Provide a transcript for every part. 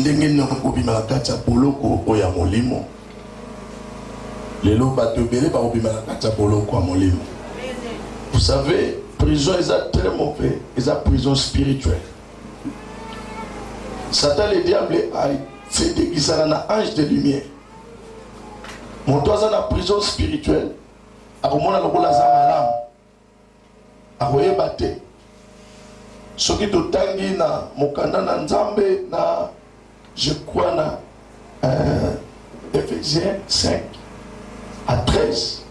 ndenge nini okobima na kati ya boloko oyo ya molimo lelo bato ebele bakobima na kati ya boloko ya molimo vous savez prison eza très mauvais eza prison spirituelle satan le diable asetekisana na ange de lumière moto aza na prison spirituelle akomona lokola aza malamu akoyeba te soki totangi na mokanda na nzambe na je crois na euh, Ephésiens 5 à 13.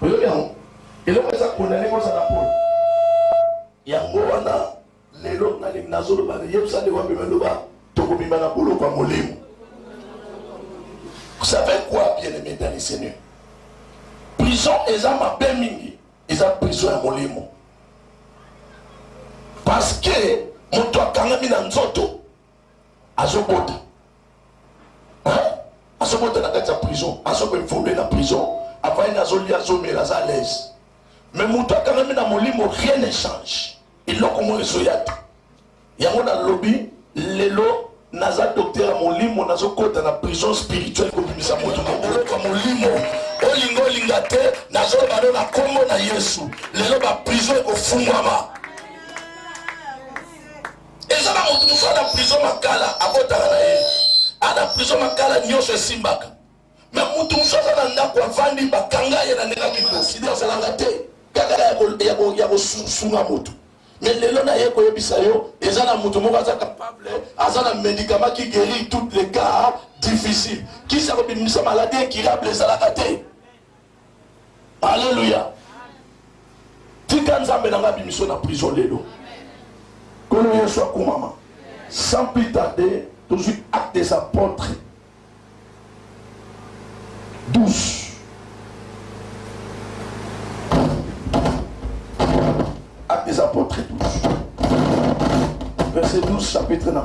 Boyoki yango? Eloko eza condamne ko zala pole. Yango wana lelo na lingi nazo loba na yebisa nde wapi me loba toko bima na bulu kwa molimo. Vous savez quoi bien aimé dans le Seigneur? Prison eza mabe mingi, eza prison ya molimo. Parce que moto akangami na nzoto azobota azobota na kati ya prison azokoevolue na prison avandi azolia azomela aza alaise me moto akangami na molimo rien ne change eloko moko ezoya te yango nalobi lelo naza doktere ya molimo nazokota na prison spirituelle kobimisa moto moboloko ya molimo olinga olinga te nazoloba no na nkombo na yesu lelo baprison ekofungwama Eza na mutu mususu ana prison makala abotaka na ye ana prison makala nioso esimbaka me mutu mususu aza na ndako avandi bakanga ye na ndenge akiko sidi azalaka te kaka ya kosunga mutu me lelo na ye koyebisa yo eza na mutu moko aza capable aza na medicament ki guerir toutes les cas difficile kisi ya kobimisa maladie incurable ezalaka te Alléluia. Tika Nzambe na nga bimiso na prison lelo. Kolo Yesu akumama. Sans plus tarder, tozwi acte des apôtres 12. Acte des apôtres 12. Verset 12, chapitre na 1.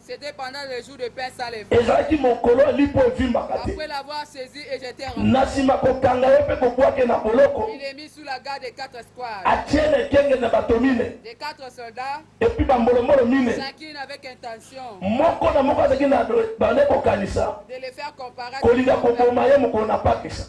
C'etait pendant le jour de pains sans levain. Ezalaki mokolo ya lipa evimbaka te. Après l'avoir saisi et jeter en Na prison. sima kokanga ye mpe kobwaka ye na boloko, Il est mis sous la garde de quatre squads, atie na ekenge na bato mine de quatre soldats, epi bambolombolo mine. chacune avec intention Moko na moko azalaki na bandaki kokanisa de le faire comparaître kolinga devant koboma ye mokolo na Pakisa.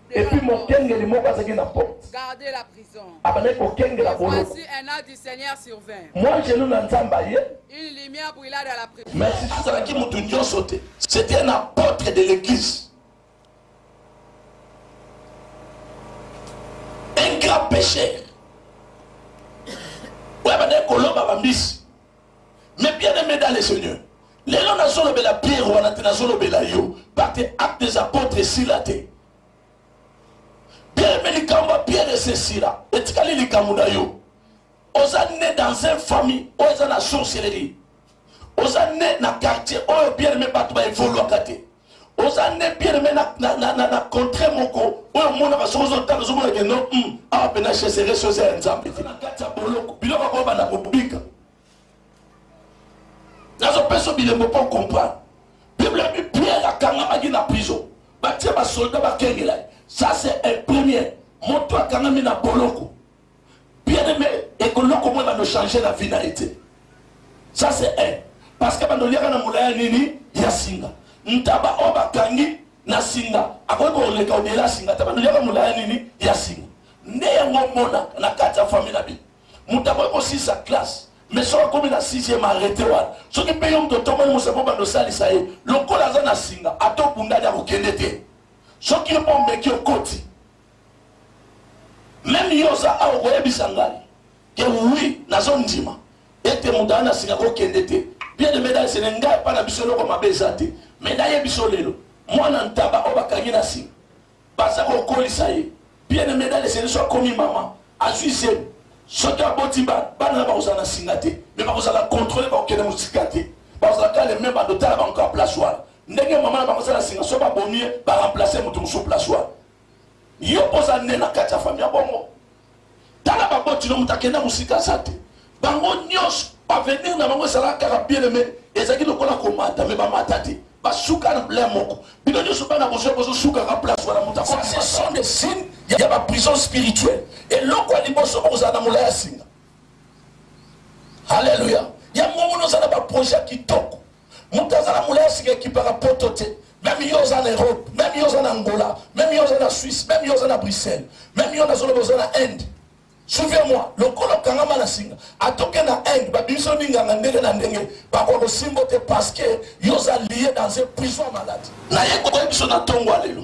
Et puis mon kengeli moko azaki na porte. Gardez la prison. Abandaki kokengela bolo. Voici un an du Seigneur survint. Moi je na Nzambe aye. Une lumière brilla dans la prison. Mais si azalaki moto nyonso te. C'était un apôtre de l'église. Un grand pécheur. Oyo abandaki kolomba bambisi. Mais bien aimé dans le Seigneur, lelo nazolobela Pierre wana te nazolobela yo parce que acte des apôtres esila te. Bien aimé likambo ya Pierre esesila etikali likambo na yo. Oza né dans une famille oyo eza na sorcellerie. Oza né na quartier oyo bien aimé bato ba evoluaka te. oza nde bien me na contrat moko oyo omonaka soki ozotala ozomona ke no hmm, awa mpena cheseresi oza ya nzambe te na kati ya boloko biloko yango banda kobika nazopesa bilembo mpo comprendre bible abi pierre akangamaki na prison batie basoldat bakengela ye ça c'est un premier moto akangami na boloko bien aime ekoloko mwe bando changer na vie na ye te ça c'est un parce que bando liaka na molaya nini ya singa ntaba oyo bakangi na singa akoki koleka obele asinga te bando liaka molaya nini ya singa nde yango omona na kati ya famille na bino moto akoki kosisa classe mais soki akomi na 6e arrete wana soki mpe yo moto otomoli mosapo bando osalisa ye lokola aza na singa ata obundani akokende te soki yo mpo omeki okoti Meme yo oza awa okoyebisa ngai que oui nazo ndima ete moto aye na singa ko kende te bien aime dai sene ngai epai na biso eloko mabe eza te mais nayebi biso lelo mwana ntaba oyo bakangi na singa baza kokolisa ye bien aime dai sene so akomi mama azwi zemi soki aboti bana bana na bakozala na singa te mais bakozala controle bakokende mosika te bakozala kaka le meme bando tala bango kaka place wana ndenge mama na bango eza na singa so babomi ye baremplace moto mosusu place wana Yo oza ne na kati ya famille ya bongo tala baboti no moto akenda mosika aza te bango nyonso bavenir na bango ezalaka kaka biele me ezalaki lokola komata me bamata te basuka na bla moko bino nyonso bana bozwa bozosukaka place wana moto ce sont des signes ya baprison spirituelle eloko ya liboso bokozala na molai ya singa halleluya yango mona oza na baprojet kitoko Mutu aza na mulayi asika ekipaka poto te meme yo oza na Europe meme yo oza na Angola meme yo oza na Suisse meme yo oza na Bruxelles meme yo nazoloba oza na Inde suivez moi lokola okangama na singa atoke na Inde babimiso minganga ndenge na ndenge bakoka kosimbo te parce que yo oza lie dans un prison malade naye koyebiso na tongo ya lelo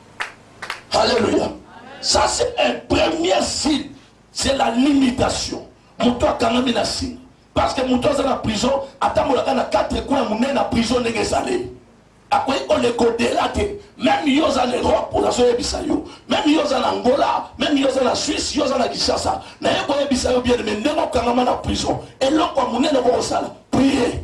Alléluia. Ça c'est un premier signe. C'est la limitation. Moto akangami na signe. Parce que moto aza na prison, atambolaka na quatre coins monene na prison ndenge ezaleli. akoki koleka odela te meme yo oza na europe onazoyebisa yo meme yo oza na angola meme yo oza na suisse yo oza na kinshasa naye koyebisa yo bien me ndenge okangama na prison eloko ya monene okokosala prie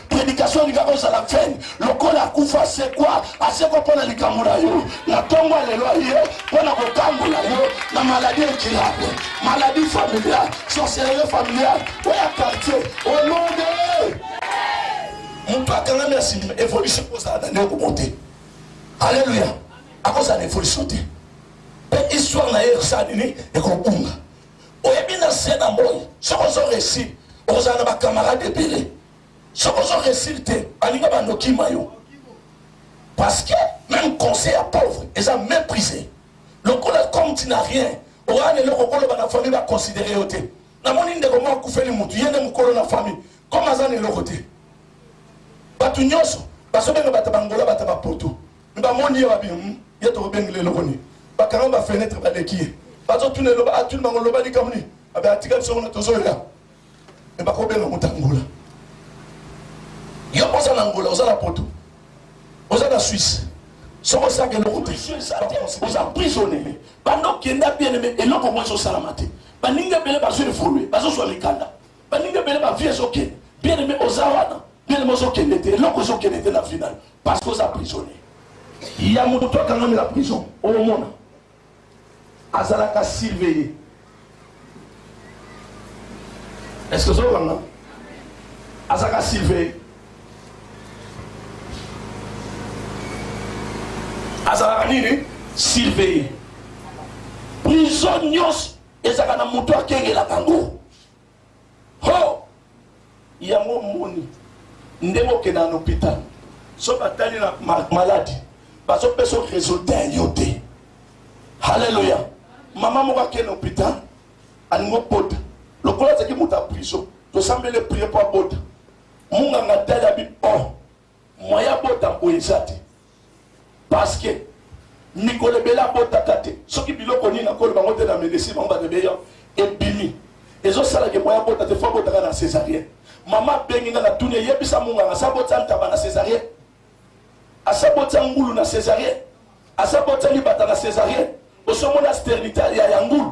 predication elingaka ozala fen lokola akufa asekwa asekwa mpo na likambo na yo na ntongo ya lelo ye mpo na kokambola yo na maladi ekilako maladi familiale sorcellerie familiale oya quartier olonde moto akangami ya sindima evolution kozala na ndeko mo te alleluya akozala na evolution te mpe histoire na ye ekosala nini ekobunga oyebi na se na moi soki ozo resi okozala na bacamarade ebele Soki ozo reussir te baninga bando kima yo parce que meme conseil ya pauvre eza meprise lokola comme tu n'as rien oza na eloko okoloba na famille ba considere yo te namoni ndeko moko akufeli mutu ye nde mokolo na famille comme aza na eloko te bato nyonso bazobenga bato bangola bato bapoto me bamoni ye babi hmm, ye tokobengela eloko nini bakanga bafenetre baleki ye bazotuna eloba atuni bango loba likambo nini abe atika biso kuna tozoya mais bako benga muta angola yo oza na angola oza na poto oza na suisse soki osaka eloko te oza prisonnier banda okenda bien aime eloko mwa ezosalama te baninga ebele bazo evolue bazozwa mikanda baninga ebele bavie ezokende bien aime oza wana bien aime ozokende te eloko ezokende te na final parce que oza prisonnier ya moto akangami na prison omona Azalaka surveiller. Est ce que ozo kanga? Azalaka surveiller. Azalaka nini? Surveiller. Prison nyonso ezalaka na moto akengelaka yango. Hoo! Yango omoni ndenge okendaka na hopital soki batali na maladi bazo peso resultat ya yo te. Haleluya! Mama moko akei na hopital alingi obota lokola azalaki moto ya prison tosambeli prie mpo abota munganga atali abi oh Moyen abota mpo eza te parce que mikolo ebele abotaka te soki biloko nini akoloba yango te na medecine bango bato ebele ebimi ezosala ke moyen abota te fo abotaka na césarienne mama abengi nga natuni eyebisa monganga asabotisa ntaba na césarienne asabotisa ngulu na césarienne asabotisa libata na césarienne osomona sternita ya ya ngulu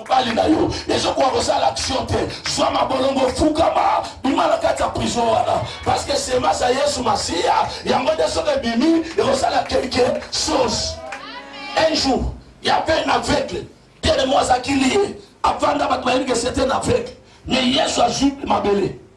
Mobali na yo ezo koka kosala action te, zwa mabolongo, fukama, bima na kati ya prison wana, parce que semence ya Yesu Masiya yango nde soki ebimi ekosala quelque chose. Un jour, il y avait un aveugle, tellement azalaki liye, avanda bato bayebi que c'était un aveugle, mais Yesu azwi mabele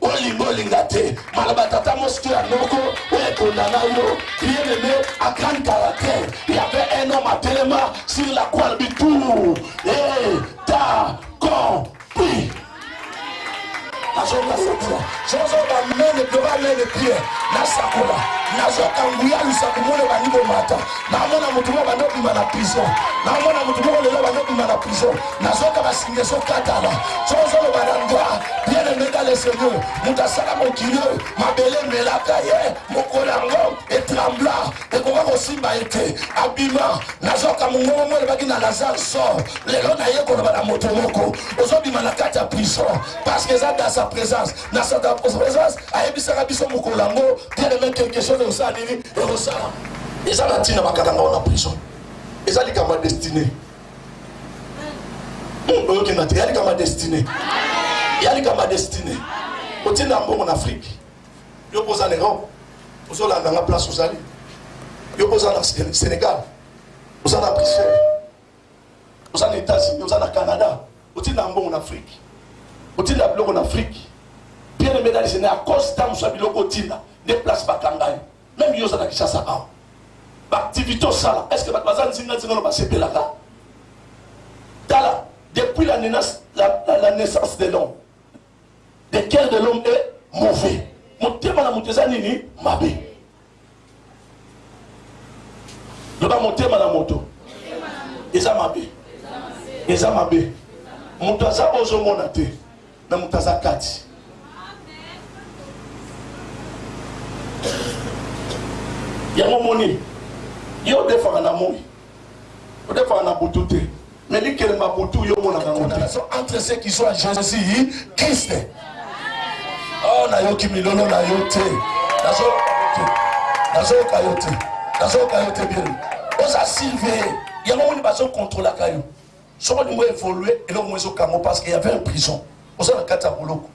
olinga olinga te maloba tata mosiki ya noko oyo ekondana yo bien aimé a grande caractère il y avait un homme à telema sur la croix du tour et ta compris nazoka satira zozoba mene doba mene pie nasakola nazoka nguya lusaku mone bandi bomata namona motu moko bando bima na prison namona motu moko lelo bando bima na prison nazoyoka basinga ezokatana so ozoloba na ndwa bien aime dans le seigneur moto asala mokili oyo mabele emelaka ye mokolo yango etrembla ekoka kosimba ye te abima nazoka mongongo mo elobaki na lazare sor lelo naye koloba na moto moko ozobima na kati ya prison parce que eza dans sa présence na sa présence ayebisaka biso mokolo yango bien aime quelque chose ekosala nini ekosala eza na ntina bakanga ngai na prison eza likambo ya destine Hmm, oyokenda te yali kama destine yali kama destine otinda mbongo na afrike yo mpo oza na europe ozolanda nga place ozali yo mpo oza na sénégal oza na bruxelles oza na états-unis oza na canada otinda mbongo na afrike otinda biloko na afrike pierre medalise na ya costa mosu ya biloko otinda nde place bakanga ye Meme yo oza na Kinshasa awa. Ba activités osala, est-ce que bato baza nzinga nzinga no basepelaka? Tala, depuis la naissance, la, la, la naissance de l'homme, le cœur de l'homme est mauvais. Motema na moto eza nini? Mabe. Loba motema na moto eza mabe. Eza mabe. Moto aza ozomona te. na moto aza kati. yango moni yo odefaka na moi odefaka na butu te mais likelemba butu yo omonaka yango te entre ceux qui sont à jésus christ oh nayoki milolo na yo te nazoyoka yo te nazoyoka yo te bien oza silve yango moni bazokontrolaka yo soki olingi o evolue eloko moko ezo kanga yo parce que y'avait un prison oza na kati ya boloko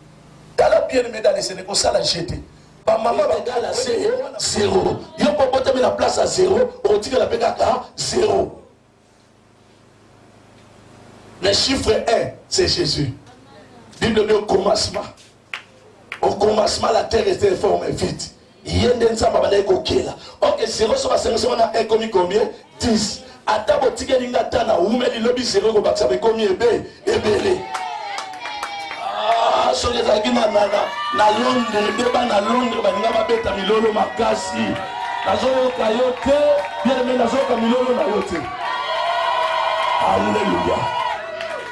tala bien aime dala ese ndeko osala jeu te ba mama ba dala se zero yo po botami na place ya zero okotikala pe kaka zero mais chiffre 1 c'est Jésus bible nde okoma sima Au commencement la terre était forme et vide. Ye nde Nzambe abandaki kokela. Ok, zero so basangisi wana ekomi combien? 10. Ata botikeli nga ata na wumeli lobi zero ekobakisa bekomi ebe ebele. Ah, soki ezalaki na na na Londres nde bana Londres balinga babeta milolo makasi. Nazoyoka yo te, bien aimé nazoyoka milolo na yo te. Alléluia.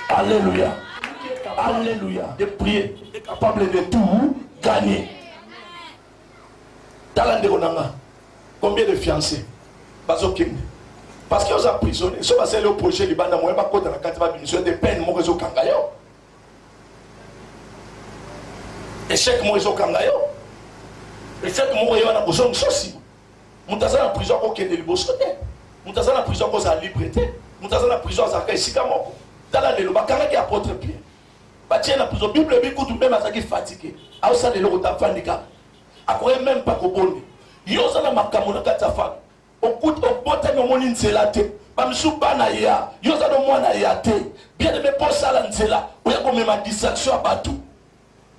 Alléluia. Alléluia. De prier est capable de tout gagner. Tala ndeko na nga. Combien de fiancés bazokende parce que oza prisonnier so basali yo projet libanda moyen bakota na kati babimisa te peine moko ezokanga yo échec moko ezokanga yo échec moko ye wana kozongisa nsima Moto aza na prison ako kende liboso te. Moto aza na prison ako zala libre te. Moto aza na prison azalaka esika moko. Tala lelo ba kangaki apotre Pierre. Ba tie na prison. Bible ebi kutu meme azalaki fatigue. Azo sala eloko ta fandi kaka. Akoye meme pas kobonde. Yo oza na makambo na kati ya fami. Okuti obotami omoni nzela te. Ba misusu bana ya. Yo oza no mwana ya te. Bien aime po sala nzela. Oya komema distraction ya batu.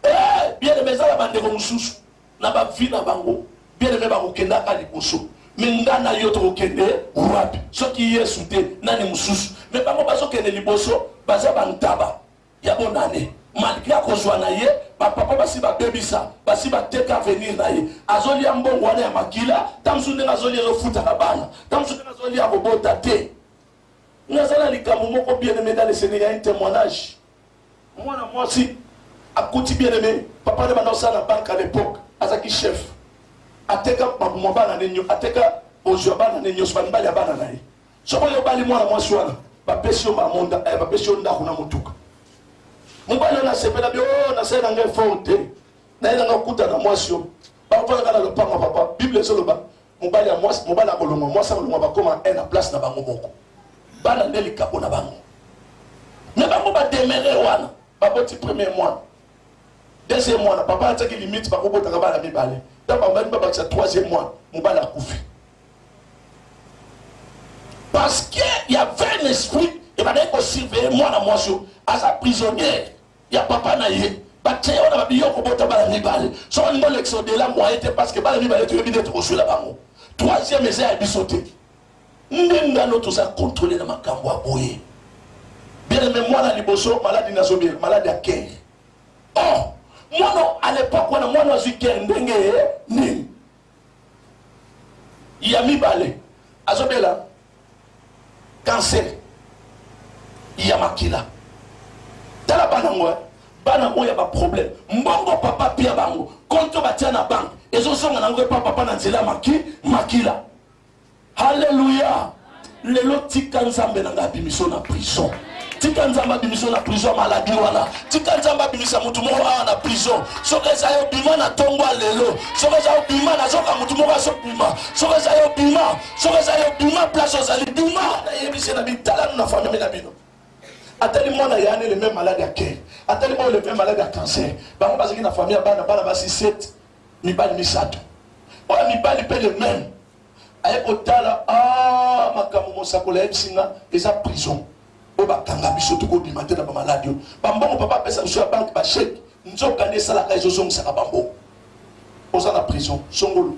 Eh bien aime eza na bandeko mususu. na ba vie na bango bien aime bako kenda ka liboso mais nga na yo toko kende wapi soki yesu te nani mususu mais bango bazo kende liboso baza ba ntaba ya bonane malgre akozwa na ye bapapa basi babebisa basi bateka avenir na ye azolia mbongo wana ya makila ta mosusu ndenge azolia ezofutaka bana ta mosusu ndenge azolia kobota te nazala likambo moko bien aime dans le seigneur ya un témoignage Mwana mwasi akuti bien aime papa nde banda kosala na banque à l'époque azaki chef ateka mabuma bana nde nyo ateka bozwi ya bana nde nyonso bamibali ya bana na ye soki oyo obali mwana mwasi wana bapesi yo mamonda eh, bapesi yo ndako na motuka mobali oyo nasepela bi oyo oh, nasali na ngai fort te naye na ngai okuta na mwasi oyo bakofandaka na lopango papa bible ezoloba Mobali ya mwasi, mobali akolongwa, mwasi akolongwa, bakoma un na place na bango moko. Bana nde likabo na bango. Na bango ba demere wana, baboti premier mwana. Deuxième mwana, papa atiaki limite bakobotaka bana mibale. Ntango babandi babakisa troisième mwana, mobali akufi. Parce que ya vain esprit ebandaki kosurveille mwana mwasi oyo aza prisonnier ya papa na ye batie wana ba biyo kobota bana mibale soki olingi olekisa odela moyen te parce que bana mibale toyebi nde tokoswela bango troisième eza ya biso te nde ngano toza controle na makambo ya boye bien me mwana liboso maladi nazobi maladi ya ker or oh, mwana à l'époque wana mwana azwi ker ndenge nini ya mibale azobela cancer ya makila tala bana ngo bana oyo ya baproblème mbongo papa apia bango konto batia na banke ezozonga nango epa papa na nzela maki makila Alleluia. Lelo tika Nzambe na nga abimiso na prison. Tika Nzambe abimiso na prison maladie wana. Tika Nzambe abimisa mutu moko awa na prison. Soki eza yo bima na tongo lelo. Soki eza yo bima na zoka mutu moko aso bima. Soki eza yo bima, soki eza yo bima place ozali bima. Na yebisi na bitala na famille na bino. Atali mwana yani le même malade à cœur. Atali mwana le même malade à cancer. Bango bazaki na famille bana bana basi 7 mibali misato. Oya mibali pe le même aye kotala aah makambo mosakoli ayebisi nga eza prison oyo bakanga biso tokobima te na bamaladi oyo bambongo papa apesa biso ya banke basheke nzoka nde esalaka ezozongisaka bambongo oza na prison songolo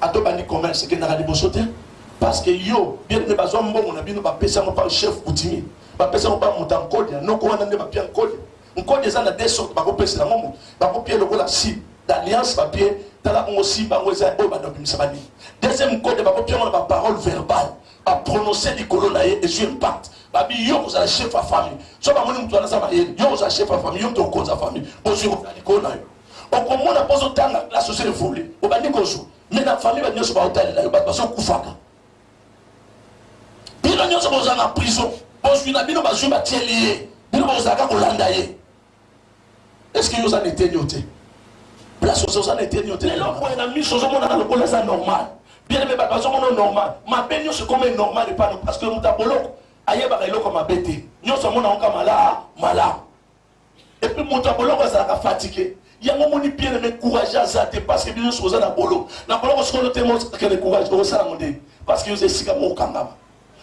ato bandi commerce ekendaka liboso te parce que yo bien aimé bazwa mbongo na bino bapesa yango pa chef coutumier bapesa yango pa moto ya nkodia noko wana nde bapia nkodia Nkoni eza na deux sortes bako pesa yango mutu bako pie lokola si d'alliance ba pie tala bongo si bango eza oyo banda obimisa ba nini deuxième nkoni bako pie yango na ba parole verbale ba prononcer likolo na ye ezwi impact babi yo kozala chef ya famille so bamoni moto wana aza mayele yo kozala chef ya famille yo moto okonza famille ozwi kozala likolo na yo okomona mpo ozotanga classe ozo evole obandi kozwa me na famille bato nyonso baotalela yo bato bazokufaka Bino nionso boza na prison, bozwi na bino bazwi batieli ye, bino bozalaka kolanda ye. Est-ce que yo oza na eteni yo te? Place oza oza na eteni yo te? Lelo boye na miso ozomonana lokola eza normal. Bien aimé bato bazomona normal. Mabe nionso ekomi normal epai na parce que moto ya boloko ayebaka eloko mabe te. Nionso amonaka kaka malamu malamu. Et puis moto ya boloko azalaka fatigue. Yango moni bien aimé courage aza te parce que bino nyonso boza na bolo. Na boloko sikoyo te mo kende courage okosala ngo ndenge parce que oza esika moko okangama.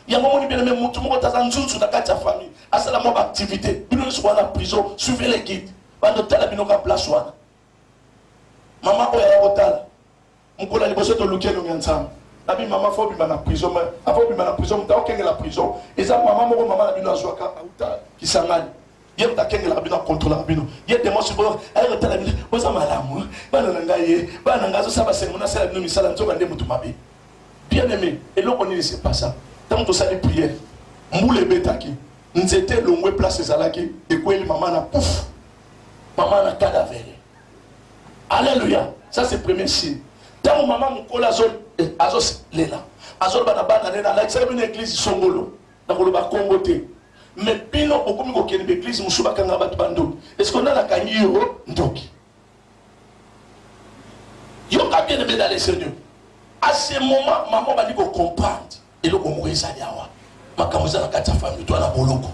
Yango moni bien aimé moto moko taza nzunzu na kati ya famille asala mwa baactivité bino nyonso boza na prison suivez les guides bando tala bino ka place wana. Mama oyo aya kotala Mokolo ya liboso toluki elongi ya Nzambe. Nabi mama faut obima na prison mais avant obima na prison moto akengela prison eza mama moko mama na bino azwaka auta Kisangani ye moto akengelaka bino akontrolaka bino ye demo subo aye kotala bino boza malamu bana na ngai ye bana na ngai azosala basengo nasala bino misala nzoka nde moto mabe bien aimé eloko nini se pasa ntango tosali priere mbula ebetaki nzete elongwe place ezalaki ekweli mama na pufu mama na cadavere Alleluia ça c'est premier signe ntango mama mokolo azolela eh, azoloba na bana nene alakisaka bino eglize songolo na koloba nkombo te me bino bokomi kokende baeglize mosusu bakanga bato bandoki eske nani akangi yo ndoki yoka bien ebedale seigneur à ce moment mama obandi kocomprendre Eloko moko ezali awa, makambo eza na kati ya famille, to na boloko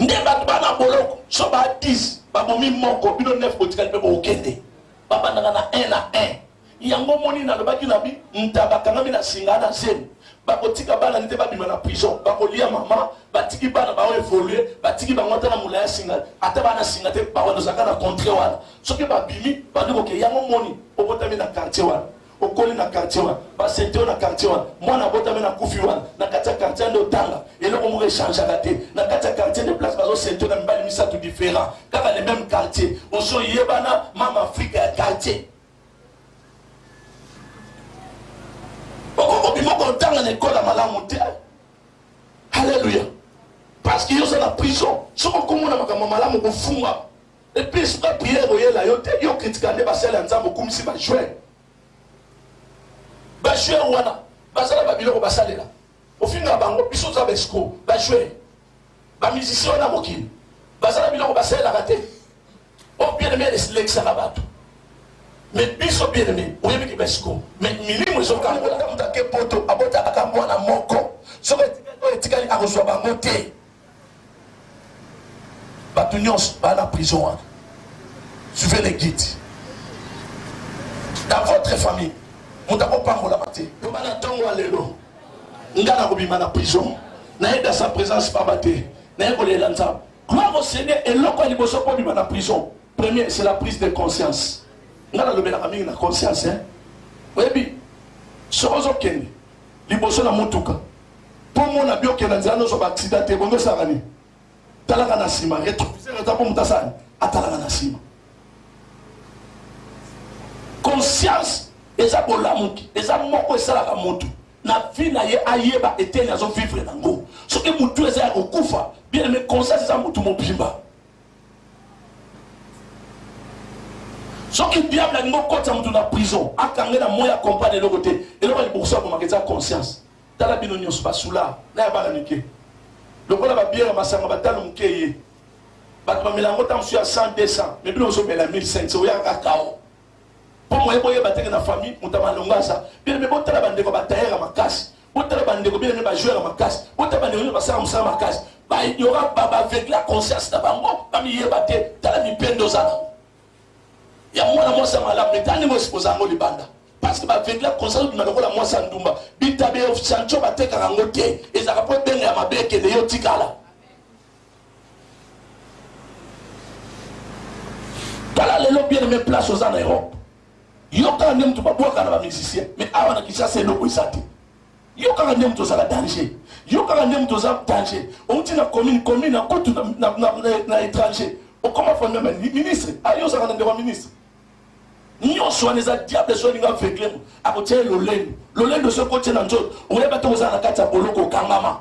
nde bato bana boloko so ba 10 babomi moko, bino 9 botikali mpe bokokende, babandaka na 1 na 1 yango omoni nalobaki na bi nta bakangami na singa na zemi bakotika bana nite babima na prison bakolia mama batiki bana bao evolue batiki bango ata na mola ya singa ata bana singa te bawanozaka na contre wana soki babimi bandi koke yango moni obotami na quartier wana okoli na quartier wana basente yo na quartier wana mwana abotami na kufi wana na kati ya quartier nde otanga eloko moko echangaka te na kati ya quartier nde place bazosente na mibali misato différent kaka le même quartier ozoyebana mama afrika ya quartier obima kotanga na ekole ya malamu te halleluya parce que yo oza na prison soki okomona makambo malamu kofungama Et puis soka prière oyela yo te yo critika nde basali ya nzambe okumisi ba joueur ba joueur wana bazala ba biloko basalela ofinga bango biso toza ba escro ba joueur ba musicien wana mokili bazala biloko basalelaka te o oh, bien aimé elekisaka bato mais biso bien aimé oyebi ki ba escro mais milimo ezokangola moto ake poto abotaka kaka mwana moko soki etikali akozwa bango te Batu nyonso ba na prison wana. Suivez les guides. Dans votre famille, moto akopambolama te. Loba na ntongo ya lelo, nga nakobima na prison. Nayeda sa presence pamba te. Naye kolela Nzambe. Gloire au Seigneur, eloko ya liboso mpo obima na prison. Premier, c'est la prise de conscience. Nga nalobelaka mingi na conscience, hein. Oyebi, soki ozokende liboso na motuka Kombo na bioke na nzela noso ba accident te bondo saka ni talaka na sima retroviseur eza po mutasani atalaka na sima conscience eza bolamuki eza moko esalaka motu na vie na ye ayeba eteni azo vivre nango soki motu eza ya kokufa bien aime conscience eza motu mobimba soki diable alingi okotisa motu na prison akange na moi akompane eloko te eloko ya liboso akomaka eza conscience Tala bino nionso ba soulard na ya bana mike lokola ba bière masanga ba talo muke eye batu ba mela yango tango mosusu ya 100 200 mais bino ozo mela 1500 oya kaka kao po moye boyeba teke na famille moto ya malonga aza bino me botala bandeko ba tailleur ya makasi botala bandeko bino me ba joueur ya makasi botala bandeko bino basala mosala makasi ba ignorant ba ba aveugle ya conscience na bango ba miyeba te tala mipende oza nango ya mwana mwasi ya malamu leta ndenge osi kozala yango libanda parce que bavengla conseil obima lokola mwasi ya ndumba bitabe ya sancho batekaka yango te ezalaka mpo ebenga ya mabe ekende yo tikala tala lelo bien aime place oza na europe yokaka nde moto babwaka na bamusicien mais awa na kinshasa eloko eza te Yo kaka nde mutu ozaka danger. Yo kaka nde mutu oza danger. Outi na commune, commune na kutu na, na, na, na, na étranger. Okoma fanda na ministre. Ayo ah, ozaka na ndeko ministre. nyonso wana eza diable so alingi aveugle mo akotia ye lolendo lolendo so ekoti na nzoto oyeba te kozala na kati ya boloko okangama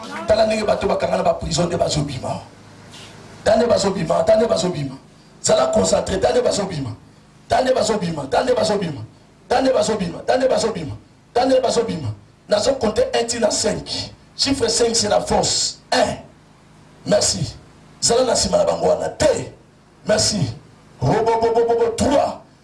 Tala ndenge bato bakanga na ba prison nde bazo bima. Tala nde bazo bima, tala nde bazo bima. Zala concentre, tala nde bazo bima. Tala nde bazo bima, tala nde bazo bima. Tala nde bazo bima, tala nde bazo bima. Tala nde bazo bima. Nazo compter 1 ti na 5. Chiffre 5 c'est la force. 1. Merci. Zala na sima na bango wana te. Merci. Robo bobo bobo 3.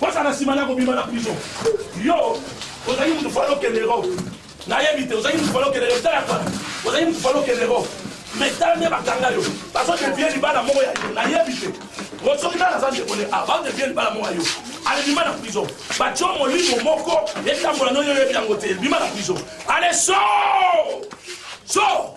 Kosa na sima na kobima na prison. Yo ozali mutu falo kendero. Nayebi te ozali mutu falo kendero tala kala. Ozali mutu falo kendero. Mais tala nde bakanga yo. Bazo te vie libala moko ya yo. Nayebi te. Osoki tala za ndeko ne ah ba te vie libala moko ya yo. Allez bima na prison. Ba tio molimo moko etambola no yo yebi yango te. Bima na prison. Allez so! So!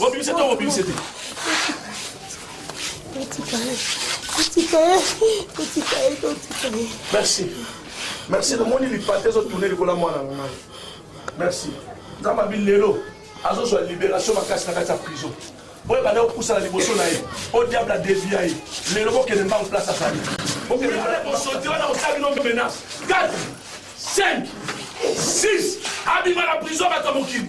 Obimisa to obimisa te. Otika ye. Otika ye. Otika ye to otika ye. Merci. Merci na moni lipate ezo tourner likola mwana na ngai. Merci. Nzamba bi lelo azozwa liberation makasi na kati ya prison. Oyo bana opusa na liboso na ye. O diable a devia ye. Lelo bokende mbangu place azali. Bokende mbangu. Bosoti wana osali no menace. 4 5 6 abima na prison bato ya mokili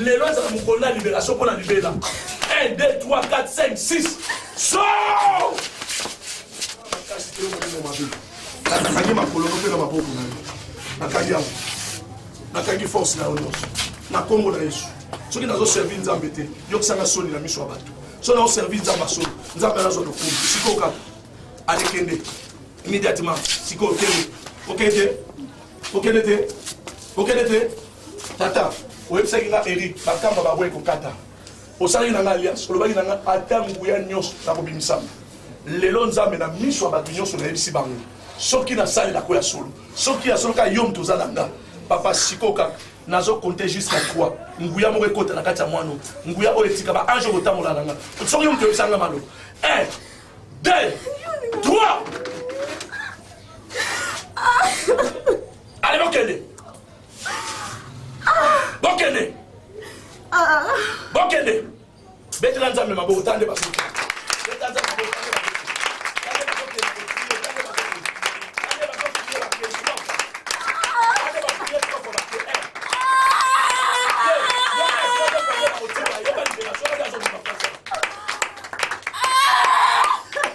Lelo ezala mokolo na liberation mpo na libela. 1, 2, 3, 4, 5, 6. So! Nakangi makolo mpe na maboko na yo. Nakangi yango. Nakangi force na yo nyonso. Na nkombo na Yesu. Soki nazoservi Nzambe te, yokisanga soni na miso ya bato. Soki nazoservi Nzambe ya solo, Nzambe anazwa lokumu. Sikoyo kaka. Alekende. Immédiatement. Sikoyo okende. Okende te. Okende te. Okende te. Tata, oyebisaki nga Eric, bakamba babo ekokata. Osalaki na nga alliance, olobaki na nga ata nguya nyonso nakobimisama. Lelo Nzambe na miso ya bato nyonso nayebisi bango soki nasalela ko ya solo, soki ya solo kaka yo moto oza na nga. Papa siko kaka nazo compte jusqu'à 3 nguya moko ekota na kati ya mwana nguya oyo etika ba ange kotambola na nga soki yo moto oyebisa nga malo 1 2 3 ale bokende bokende bokende betela nzambe maboko tande basoki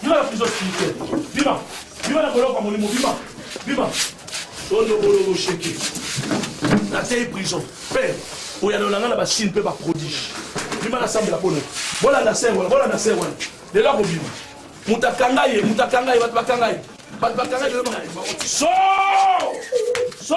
Bima na prison spirituel. Bima. Bima na boloko ya molimo. Bima. Bima. Tondo boloko sheke. Natei prison. Père, oyanola nga na basine mpe baprodige. Bima nasambela mpo na yo. Bolanda ser wana. Bolanda ser wana. Lelo akobima. Moto akanga ye. Moto akanga ye. Bato bakanga ye. Bato bakanga ye. So! So!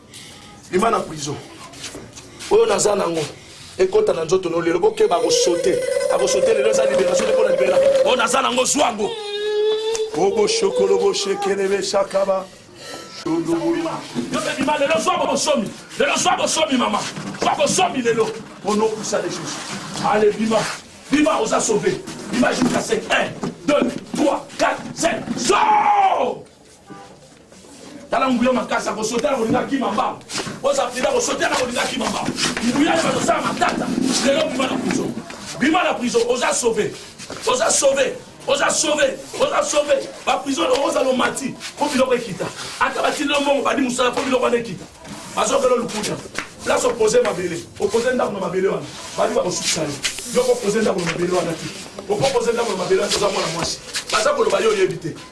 bima na prison oyo naza nango ekota na nzoto no lelo bokeba akosote akosote lelo eza liberation te mpo na libela oyo naza nango zwa yango oboshokolo boshekele beshakaba bima lelo zwa bosomi lelo zwa bosomi mama zwa bosomi lelo ono okusa lisusu ale bima bima oza sauve bima jusqu'à 5 1 2 3 4 5 zo tala nguya makasi akosota na kolinga kima mbango oza prida kosota na kolinga kima mbango nguya ye bazosala matata lelo bima na prison bima na prison oza sauve oza sauve oza sauve oza sauve baprison oza lomati mpo biloko ekita ata batindi yo mbongo badi mosala mpo biloko wana ekita bazokela lukuta place opose mabele opose ndako na mabele wana badi bakosukisa yo yoko opose ndako na mabele wana te okopoze ndako na mabele wana oza mwana mwasi baza koloba yo oyebi te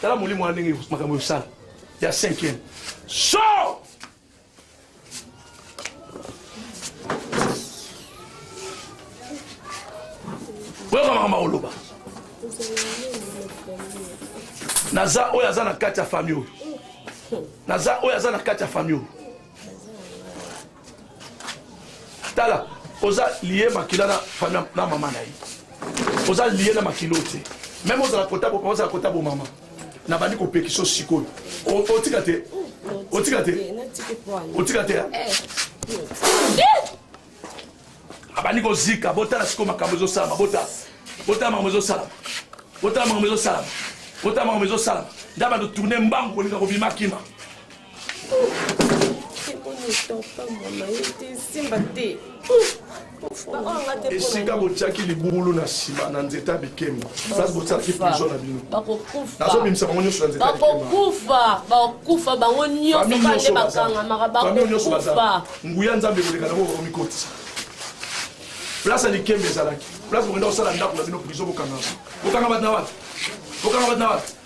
tala molimo wana ndenge makambo yosala ya cinquième so boyoka makambo akoloba naza oyo aza na kati ya fami oyo naza oyo aza na kati ya fami oyo tala oza lie makila na famille na mama na ye oza lie na makila oyo te meme ozala kota bo ozala kota bo mama na bandi kopekisa sikoyo otika te otika te otika te abandi kozika botala sikoyo makambo ezosalama botala botala makambo ezosalama botala makambo ezosalama botala makambo ezosalama nda bato tourne mbangu kolinga kobima kima esika botiaki libulu na nsima na nzete ya bikemba place botiaki prison na bino nazobimisa bango nyonso na nzete bakokufa bakokufa bango nyonso bande bakangamaka bakokufa nguya nzambe koleka nango bakomikotisa place ya likemba ezalaki place bokenda kosala ndako na bino prison bokangama bokanga bato na wapi bokanga bato na wapi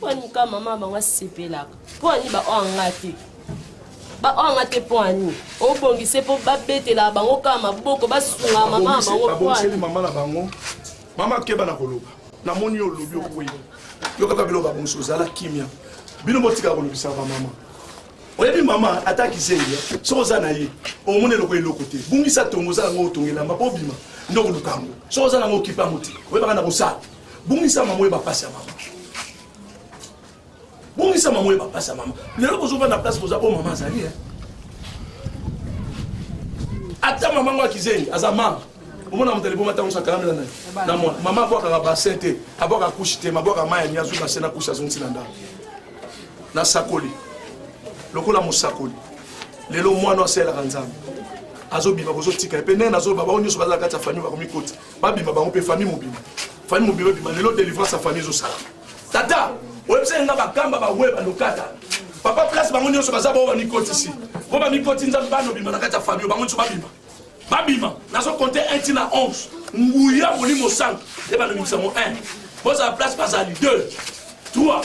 mpo ani ka mama bango asepelaka mpo ani baoyo anga te baoyo anga te mpo ani obongise mpo babetela bango kaka maboko basunga mama na bango babongiseli mama na bango mama akeba na koloba namoni olobi okwei yo kaka biloko babongisi ozala kimia bino botika kolobisa bamama oyebi mama ata kizengi soki oza na ye omoni eloko eloko te bungisa tongo oza nango otongelama mpo obima nde okoluka yango soki oza nango okipe yango te oyebaka na kosala bungisa mama oyeba mpasi ya mama bungisa mama oyeba mpasi ya mama lelo bozovanda place boza oyo mama azali eh. ata mama ngo akizengi aza mama omona moto aliboma ntango sakalamela nani na mwana mama abwakaka basin te abwaka kushi te mabwaka mai yangi azuka se na kushi azongisi na ndako nasakoli lokola mosakoli lelo mwana asalelaka nzambe azobima bozotika ye mpe ndenge nazoloba bango nyonso bazala kati ya famille bakomikota babima bango mpe famille mobima famille mobima ebima lelo délivrance ya famille ezosala tata oyebisaki nga bakamba bawe balokata papa place bango nyonso baza bao bamikotisi mpo bamikoti nzambe bana obima na kati ya famille bango nyonso babima babima nazo compte 1 ti na 11 nguya molimo santu ebanda mibisa yango 1 bozala place bazali 2 3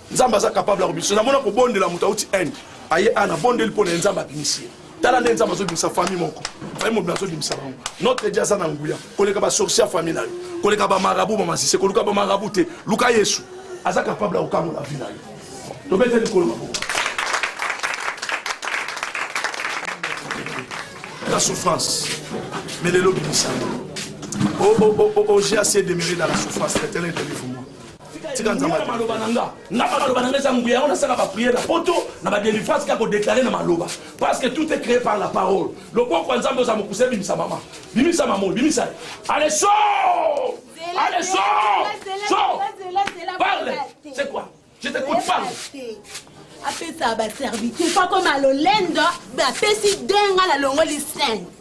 nzambe aza capable ya kobimisa namona kobondela moto auti inde aye ana bondeli mpo na ye nzambe abimisi ye tala nde nzambe azobimisa famille moko famille mobima azobimisa bango notre dia aza na nguya koleka basorcier ya famille na yo koleka bamarabu bamasise koluka bamarabu te luka yesu aza capable ya kokangola vi na yo tobete likolo maboko la souffrance mais lelo bimisana oga se demere na la souffrance etenetelivu tika nzambe na maloba na nga nga ba maloba na nga eza nguya yango nasala ba prière na poto na ba délivrance kaka kodeklare na maloba parce que tout est créé par la parole loboko ya nzambe oza mokuse bimisa mama bimisa mamo bimisa ale so ale so so parle c'est quoi je t'écoute parle apesa baserviteur mpo akoma lolendo bapesi denga na longoli 5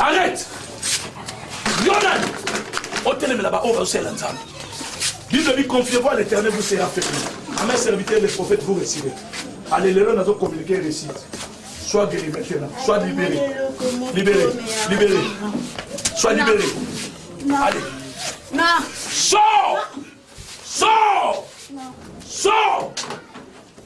arrête yonan otelemela baoyo bazosalela nzambe bible ebi confiez-vous à l'éternel vous sera fait à mes serviteurs les prophètes vous recevez ale lelo nazo communiquer récite sois guéri maintenant sois libéré libéré libéré sois libéré allez non sors sors sors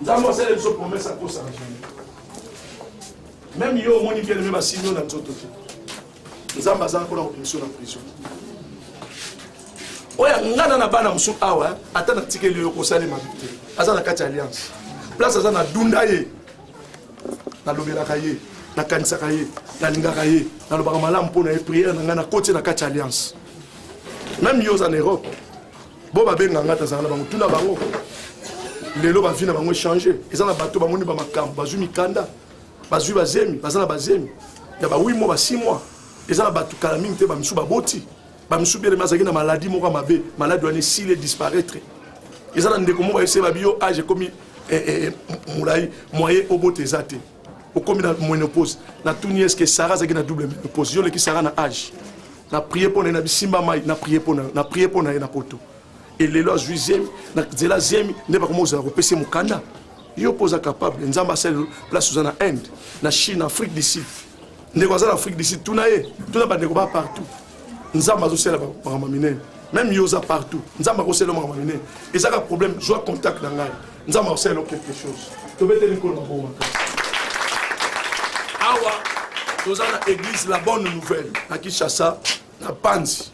nzambe asali biso promese akosana meme yo omoni bien aime basili yo na nzoto te nzambe azala mpona kobimisa na prison oyo angana na bana mosusu awa eh, ata natikeli yo kosalema te aza na kati ya alliance place aza na dunda ye nalobelaka ye nakanisaka ye nalingaka ye nalobaka malamu mpo na ye priere na ngai nakoti na kati ya alliance meme yo oza na europe bo babenga ngai tazala na bango tuna bango lelo bavi na bango echange eza na bato bamoni bamakambo bazwi mikanda bazwi bazemi baza na bazemi ya ba 8 mois ba 6 mois eza na bato kala mingi te bamisu baboti bamisu belema azalaki na maladi moko ya mabe maladi wana esili edisparaitre eza na ndeko moko ayebisi babi yo age ekomi eh, eh, eh, molai moye obota eza te okomi na menopause natuni est ce que sara azalaki na double menopause yo oleki sara na age na prie mpo na ye na bisimba mai na prie mpo na yo na prie mpo na ye na poto elelo azwi zemi na nzela zemi nde bakoma ozala kopesa ye mokanda yo mpo oza capable nzambe asali place oza na inde na chine afrique du sud ndeko aza na afrique du sud tuna ye tuna bandeko ba partout nzambe azosala makambo minene meme yo oza partout nzambe akosala makambo minene eza ka problème zwa contact na ngai nzambe akosala yo quelque chose tobeteli nkolo mabongo makasi awa toza na église la bonne nouvelle na kinshasa na panzi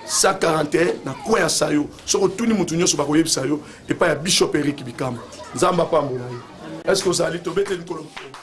141 na coin ya sayo soki otuni motu nyonso bakoyebisa yo epai ya bishop erik bikama nzambe apambola ye est ce que ozali tobeteli nkolo mabongo